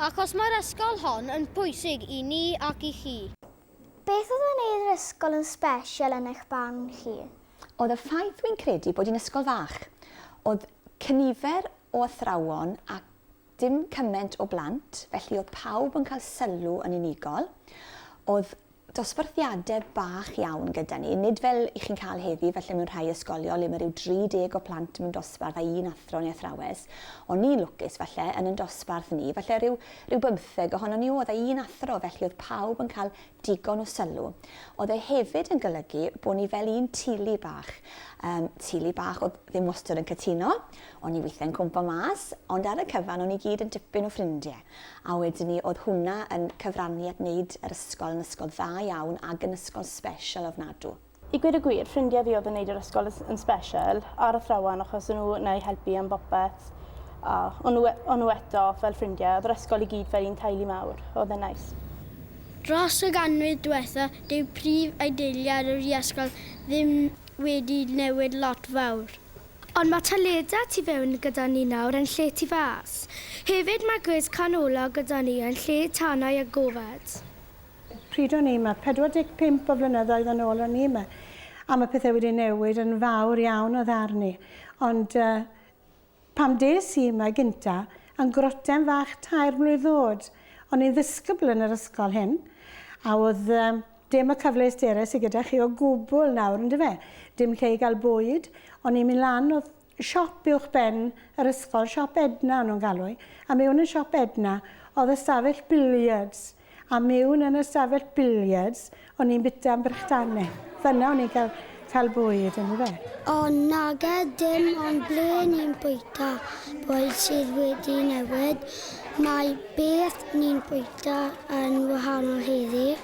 Achos mae'r ysgol hon yn bwysig i ni ac i chi. Beth oedd yn neud yr ysgol yn sbesial yn eich barn chi? Oedd y ffaith wi'n credu bod hi'n ysgol fach. Oedd cynifer o athrawon ac dim cyment o blant, felly oedd pawb yn cael sylw yn unigol. Oedd dosbarthiadau bach iawn gyda ni, nid fel i chi'n cael heddi falle mewn rhai ysgolion le mae rhyw 30 o plant mewn dosbarth a un athro neu athrawes, ond ni'n lwcus falle yn yn dosbarth ni, falle rhyw rhyw bymtheg ohonon ni oedd a un athro felly oedd pawb yn cael digon o sylw. Oedd e hefyd yn golygu bod ni fel un tulu bach, yym tulu bach oedd ddim wastod yn cytuno, o'n ni weithiau'n cwmpo mas, ond ar y cyfan o'n ni gyd yn dipyn o ffrindie. A wedyn 'ny o'dd hwnna yn cyfrannu at neud yr ysgol yn ysgol dda iawn ag yn ysgol sbeshal ofnadw. I gweud y gwir, ffrindie fi o'dd yn neud yr ysgol yn yn sbeshal, a'r athrawon, achos o' nhw 'na i helpu am bopeth, a o' nhw e- o' nhw eto fel ffrindie, o'dd yr ysgol i gyd fel un teulu mawr, o'dd e'n neis. Dros y ganrif dwetha, dyw prif adeiliad yr iasgol ddim wedi newid lot fawr. Ond mae Taleda tu fewn gyda ni nawr yn lle tu fas. Hefyd mae gwres canolog gyda ni yn lle tanau a gofod. Pryd o'n i 'ma? 45 o flynyddoedd yn ôl o'n i 'ma. A mae pethau wedi newid yn fawr iawn o ddarn i. Ond pan des i 'ma gynta, yn groten fach tair mlwydd o'd, o'n i'n ddisgybl yn yr ysgol hyn, a o'dd Dim y cyfleusterau sy gyda chi o gwbl nawr, yn dyfe? Dim lle i gael bwyd, o'n i'n mynd lan, oedd siop uwch ben yr ysgol, siop Edna o'n nhw'n galw hi, a mewn yn siop Edna, oedd ystafell billiards, a mewn yn ystafell billiards, o'n i'n bita am brechdanne. Fyna o'n i'n cael, cael bwyd, yn dyfe? O, nage, dim ond ble ni'n bwyta bwyd sydd wedi newid. Mae beth ni'n bwyta yn wahanol heddi.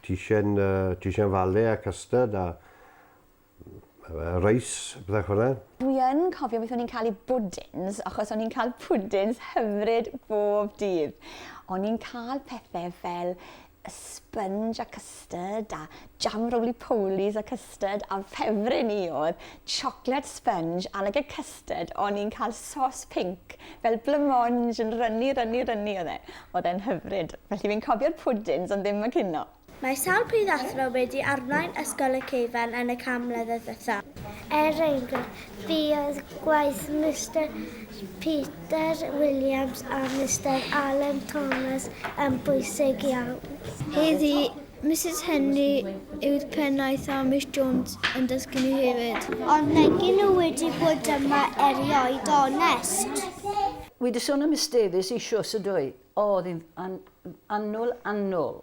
Ti isie'n fale a custard a reis a pethau fel 'na? Dwi yn cofio beth o'n i'n cael i bwdins achos o'n i'n cael pwdins hyfryd bob dydd. O'n i'n cael pethau fel sponge a custard a jam roly-polies a custard. custard a ffefryn i oedd chocolate sponge a like a custard o'n i'n cael sos pink fel blamonge yn rynnu rynnu rynnu oedd e. Oedd e'n hyfryd. Felly fi'n cofio'r pwdins ond ddim y cino. Mae sawl pryd athro wedi arwain Ysgol y Ceufarn yn y cam mlynedd ddiwetha. Er enghraifft, fi oedd gwaith Mister Peter Williams a Mister Allen Thomas yn bwysig iawn. Heddi, Misus Henry yw'r pennaeth a Miss Jones yn dysgu ni hefyd. Ond megyn nhw wedi bod yma erioed onest. Wi di sôn am Miss Davies eisios ydw i. O, oedd hi'n an, annwl, annwl.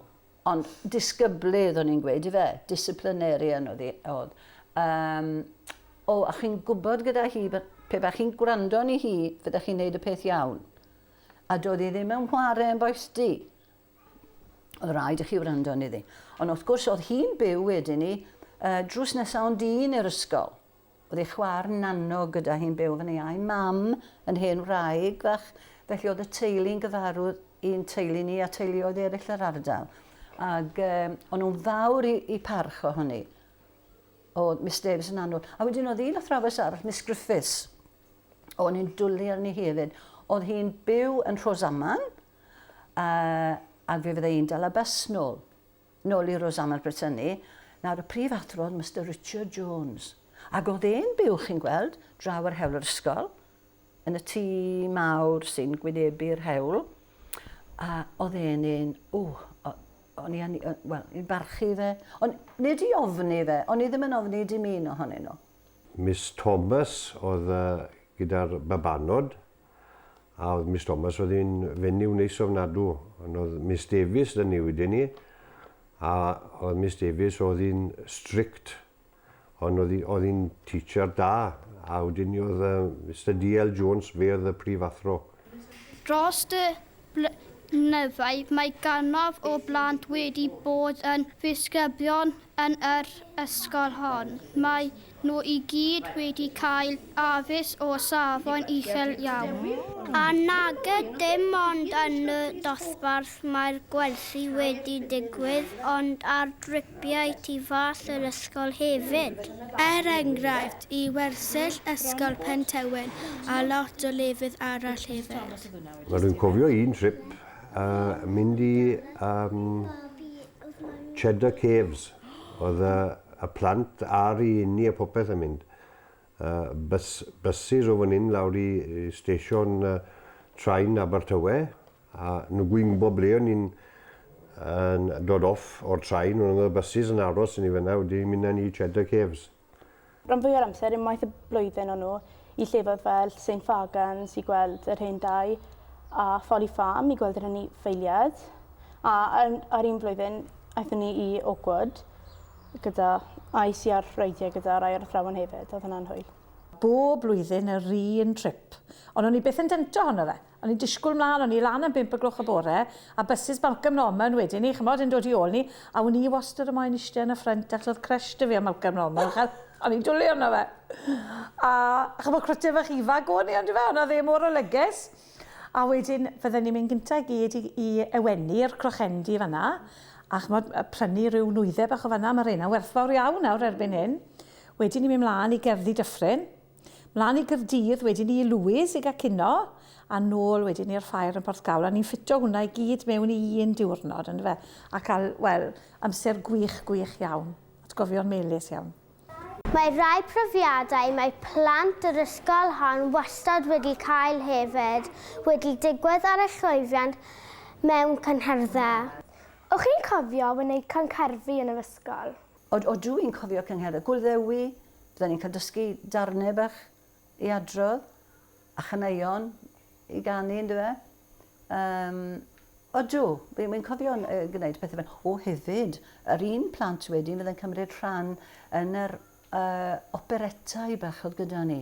Ond disgyblydd o'n i'n gweud i fe, disciplinarian oedd hi, oedd. Um, o, a chi'n gwybod gyda hi, pe ba chi'n gwrando ni hi, fydda chi'n neud y peth iawn. A doedd hi ddim yn whare yn boes di. Oedd rhaid i chi wrando yn iddi. Ond wrth gwrs, oedd hi'n byw wedyn ni, uh, drws nesaf ond un i'r ysgol. Oedd ei chwar nano gyda hi'n byw fan ei a'i mam yn hen wraig fach, felly oedd y teulu'n gyfarwydd i'n teulu ni a teuluoedd eraill yr ardal. Ac um, o'n nhw'n fawr i, i parch ohoni o Miss Davis yn anwr. A wedyn oedd un athrawes arall, Miss Griffiths, o'n i'n dwlu arni hefyd. Oedd hi'n byw yn Rhosaman, Yy, ac fe fydde i'n dal y bys nôl. Nôl i Rosanna Brittany. Nawr, y prif athro oedd Mister Richard Jones. Ac oedd e'n byw, chi'n gweld, draw ar hewl yr ysgol, yn y tŷ mawr sy'n gwynebu'r hewl. A oedd e'n un, o, o'n i yn, wel, i'n barchu fe. Ond nid i ofni fe, o'n i ddim yn ofni dim un ohonyn nhw. Miss Thomas oedd gyda'r babanod. A oedd Miss Thomas oedd hi'n fenyw neis ofnadw. Ond oedd Miss Davies dyn ni wedyn ni. A oedd Miss Davies oedd hi'n strict. Ond oedd hi'n teacher da. A wedyn ni oedd uh, Mr DL Jones, fe oedd y prif athro. Dros dy blynyddoedd, mae gannoedd o blant wedi bod yn ddisgyblion yn yr ysgol hon. Maen nhw i gyd wedi cael addysg o safon uchel iawn. A nag yw dim ond yn y dosbarth mae'r gwersi wedi digwydd ond ar dripiau tu fas yr ysgol hefyd. Er enghraifft, i wersyll Ysgol Pentywyn a lot o lefydd arall hefyd. Rwy'n cofio un trip yy mynd i yym Cheddar Caves. Oedd y y plant a'r rhieni a popeth yn mynd. Yy bys- byses o fan 'yn lawr i i stesion yy train Abertawe a nhw gyd yn gwbod ble o'n i'n yn dod off o'r train, ond oedd y byses yn aros i ni fan'na wedyn mynd â ni i Cheddar Caves. Rhan fwya'r amser, unwaith y blwyddyn o'n nhw i llefoedd fel St Fagans i gweld yr hen dai a Folly Farm i gweld yr anifeiliaid. A ar, ar un blwyddyn, aethon ni i Oakwood gyda, a is i ar reidiau gyda rai o'r athrawon hefyd, oedd hwnna'n hwyl. Bob blwyddyn yr un trip, ond o'n i byth yn dento ohono fe. O'n i'n disgwyl mlaen, o'n i lan am bump o gloch y bore, a bysys Malcolm Norman wedi 'ny, ch'mod, yn dod i ôl ni, a wn i wastad o moyn ishte yn y ffrynt, achos o'dd crush 'da fi ar Malcolm Norman, achos o'n i'n dwli arno fe. A, ch'mod, cwrictr fach ifanc o'n i, on'd yfe, on' o'dd e mor olygus. A wedyn, fydden ni'n mynd gynta' i gyd i i Ewenni, i'r Crochendy fan 'na, a ch'mod, yy prynu ryw nwyddau bach o fan 'na, ma' reina'n werthfawr iawn nawr erbyn hyn. Wedyn ni'n mynd mlaen i Gerddi Dyffryn. Mlaen i Gaerdydd wedyn i Lewes i gael cino, a nôl wedyn i'r ffair yn Porthcawl, a ni'n ffitio hwnna i gyd mewn i un diwrnod, yn dyfe? A cael, wel, amser gwych, gwych iawn. Atgofion melys iawn. Mae rhai profiadau mae plant yr ysgol hon wastad wedi cael hefyd wedi digwydd ar y llwyddiant mewn cynhyrddau. O'ch chi'n cofio wneud cancarfi yn yr ysgol? Od od dw i'n cofio cynghera gul ddewi bydden ni'n cael dysgu darnau bach i adrodd a chaneuon i ganu yn dyfe? Yym odw wi wi'n cofio yy gwneud pethau fel o hefyd yr un plant wedyn fydde'n cymryd rhan yn yr yy operetau bach oedd gyda ni.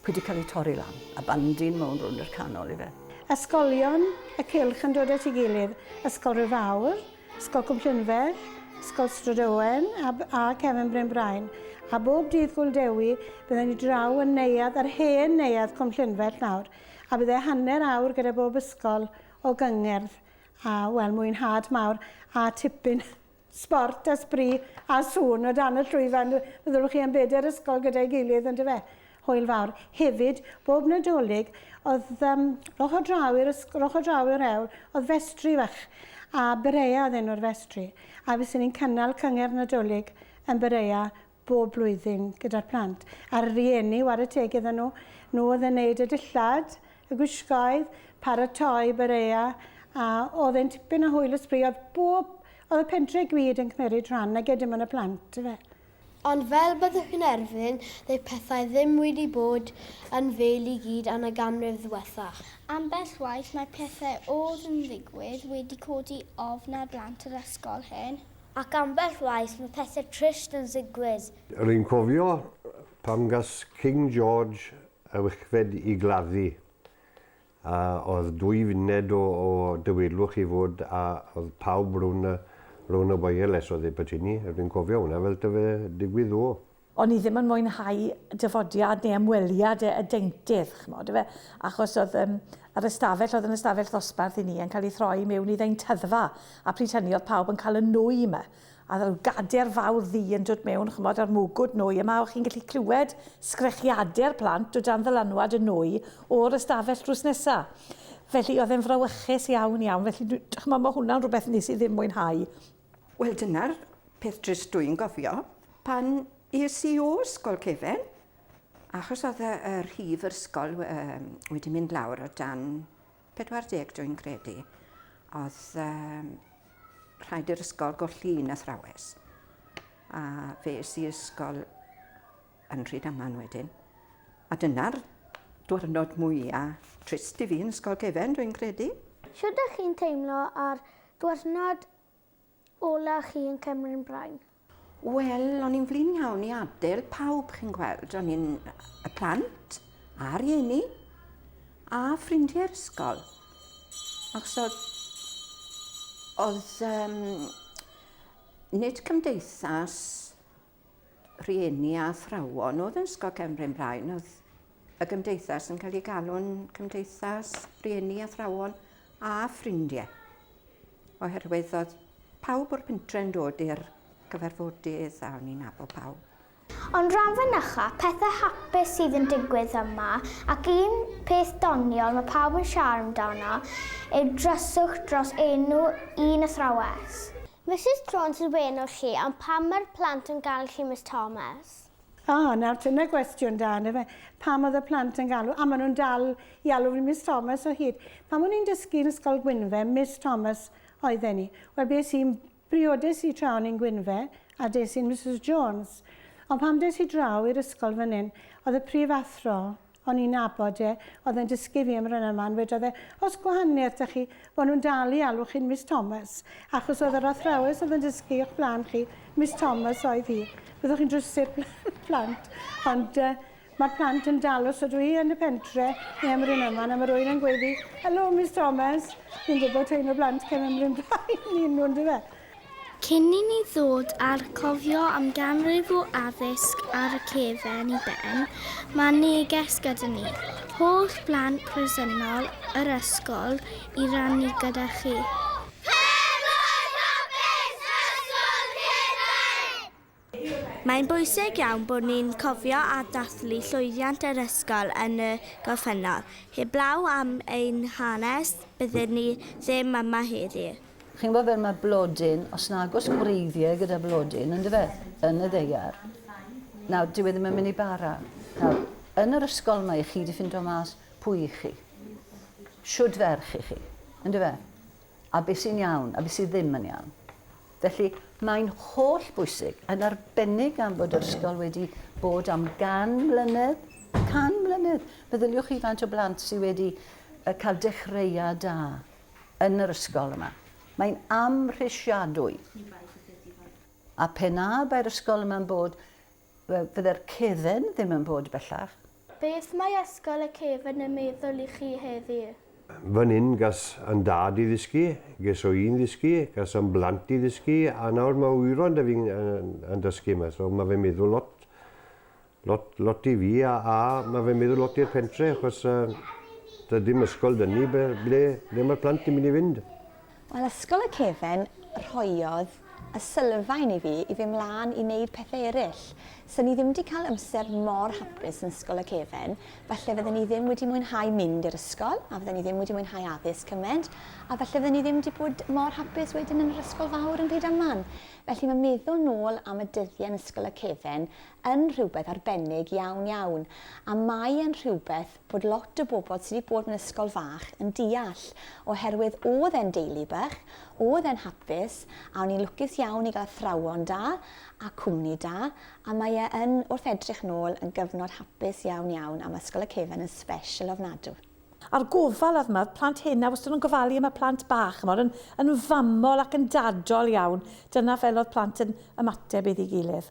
Pwy 'di cael ei torri lan? A bandin mewn rownd i'r canol ife? Ysgolion y cylch yn dod at ei gilydd, Ysgol Rhyfawr, Ysgol Cwm Llynfech, Ysgol Strydowen a a Cefn Bryn Brain. A bob dydd Gŵyl Dewi bydden ni draw yn neuadd yr hen neuadd Cwm Llynfech nawr, a bydde hanner awr gyda bob ysgol o gyngerdd a wel mwynhad mawr a tipyn Sport a sbri a sŵn o dan y llwyfan fyddwch chi yn bedair ysgol gyda'i gilydd yndyfe? Hwyl fawr. Hefyd, bob Nadolig, oedd um, roch o draw i'r roch o draw i'r hewl, oedd festri fach, a Berea oedd enw'r festri, a fyswn ni'n cynnal cyngerdd Nadolig yn Berea bob blwyddyn gyda'r plant a'r rhieni, ware teg iddyn nhw, nhw oedd yn wneud y dillad, y gwisgoedd, paratoi barea a oedd e'n tipyn o hwyl a sbri, oedd bob, oedd y pentre i gyd yn cymeryd rhan nage dim ond y plant yfe. Ond fel byddwch chi'n erfyn, ddyw pethau ddim wedi bod yn fel i gyd yn y ganrif ddiwethaf. Ambell waith mae pethau oedd yn digwydd wedi codi ofn ar blant yr ysgol hyn. Ac ambell waith mae pethe trist yn zigwydd. Rwy'n cofio pan gas King George y wychfed i gladdu, a oedd dwy funed o o dywyllwch i fwd a oedd pawb rwn y rwn y waeles oedd e bytyni, rwy'n cofio hwnna fel ta fe digwydd ddo. o'n i ddim yn mwynhau dyfodiad neu ymweliad y, y deintydd, ch'mod, efe, achos oedd um, yr ystafell, oedd yn ystafell ddosbarth i ni, yn cael ei throi mewn i ddeintyddfa, a pryd hynny oedd pawb yn cael y nwy yma, a rhyw gader fawr ddi yn dod mewn, ch'mod, a'r mwgwd nwy, yma o'ch chi'n gallu clywed sgrechiade'r plant o dan ddylanwad y nwy o'r ystafell drws nesa. Felly oedd e'n frawychus iawn iawn, felly ch'mod, mae hwnna'n rhywbeth nes i ddim mwynhau Wel dyna'r peth drist dwi'n gofio pan es i o ysgol cefen achos oedd y y rhif yr ysgol yym wedi mynd lawr o dan 40 dwi'n credu oedd yym rhaid i'r ysgol golli un athrawes a fe es i ysgol yn Rhydaman wedyn a dyna'r dwyrnod mwya trist i fi yn ysgol cefen dwi'n credu. Shwd dych chi'n teimlo ar Diwrnod ola chi yn Cymru'n Brain. Wel, o'n i'n flin iawn i adael pawb, chi'n gweld. O'n i'n y plant, a rhieni, a ffrindiau'r ysgol. Achos oedd, oedd um, nid cymdeithas rhieni a athrawon oedd yn Ysgol Cefn Bryn Brain, oedd y gymdeithas yn cael ei galw'n cymdeithas rhieni, athrawon a ffrindiau. Oherwydd oedd pawb o'r pentre yn dod i'r cyfarfodydd a o'n i'n nabod pawb. Ond rhan fynycha, pethau hapus sydd yn digwydd yma, ac un peth doniol mae pawb yn siarad amdano yw dryswch dros enw un athrawes. Misus Jones yn wên o chi ond pam mae'r plant yn galw chi Miss Thomas? O, nawr dyna gwestiwn da yndyfe? Pam oedd y plant yn galw, a maen nhw'n dal i alw fi Miss Thomas o hyd. Pan o'n i'n dysgu yn Ysgol Gwynfe, Miss Thomas oedden ni. Wel, bues i'n briodes i tra o'n i'n Gwynfe, a des i'n Misus Jones. Ond pan des i draw i'r ysgol fan hyn, oedd y prif athro O'n i'n nabod e, oedd e'n dysgu fi am Rynaman, wedodd e, oes gwahaniaeth 'da chi, bo' nhw'n dal i alw chi'n Miss Thomas, achos oedd yr athrawes oedd yn dysgu o'ch blaen chi, Miss Thomas oedd hi. Byddwch chi'n drysur plant, ond uh, mae'r plant yn dal os ydw i yn y pentre neu am Rynaman, a mae rwy'n yn gweiddi, helo Miss Thomas, fi'n gwybod teimlo blant cefn ymryn blaen i nhw'n dyfa. Cyn i ni ddod â'r cofio am ganrif o addysg ar y cefn i ben, mae neges gyda ni, holl blant presennol yr ysgol, i rannu gyda chi. Mae'n bwysig iawn bod ni'n cofio a dathlu llwyddiant yr ysgol yn y gorffennol. Heblaw am ein hanes, bydden ni ddim yma heddi. Chi'n gwybod fel mae blodyn, os nag oes gwreiddiau gyda blodyn, yn dyfe, yn y ddaear, nawr, dyw e ddim yn mynd i bara. Nawr, yn yr ysgol mae chi wedi ffindo mas pwy i chi. Shwd ferch i chi, yn dyfe? a be sy'n iawn a be sydd ddim yn iawn. Felly, mae'n holl bwysig, yn arbennig gan fod yr ysgol wedi bod am gan mlynedd, can mlynedd. Meddyliwch chi faint o blant sydd wedi cael dechreuad da yn yr ysgol yma. Mae'n amhrisiadwy. A pe na bai'r ysgol yma'n bod, Fydde'r cefn ddim yn bod bellach. Beth mae Ysgol y Cefn yn meddwl i chi heddiw? Fan hyn gas yn dad i ddysgu, ges o i'n ddysgu, gas yn blant i ddysgu, a nawr mae wyron da fi yn dysgu yma. So mae fe'n meddwl lot, lot, lot i fi, a, a mae fe'n meddwl lot i'r pentre, achos uh, da ddim ysgol da ni, ble, ble, ble mae'r plant yn mynd i fynd? Wel, Ysgol y Cefen rhoiodd y sylfaen i fi i fyn' mlan i neud pethe eryll. Sa ni ddim 'di cael amser mor hapus yn Ysgol y Cefen, falle fydden ni ddim wedi mwynhau mynd i'r ysgol, a fydden ni ddim wedi mwynhau addysg cyment, a falle fydden ni ddim 'di bod mor hapus wedyn yn yr ysgol fawr yn Rhydaman. Felly ma' meddwl nôl am y dyddie yn Ysgol y Cefen yn rhywbeth arbennig iawn iawn, a mae e'n rhywbeth bod lot o bobl sy 'di bod mewn ysgol fach yn deall, oherwydd o'dd e'n deulu bach, o'dd e'n hapus, a o'n i'n lwcus iawn i gael athrawon da, a cwmni da, a mae e yn, wrth edrych nôl, yn gyfnod hapus iawn iawn, a ma' Ysgol y Cefn yn sbeshel ofnadw. A'r gofal o'dd 'ma, o'dd plant hŷn 'na wastad yn gofalu am y plant bach, ch'mod, yn yn famol ac yn dadol iawn, dyna fel o'dd plant yn ymateb iddi gilydd.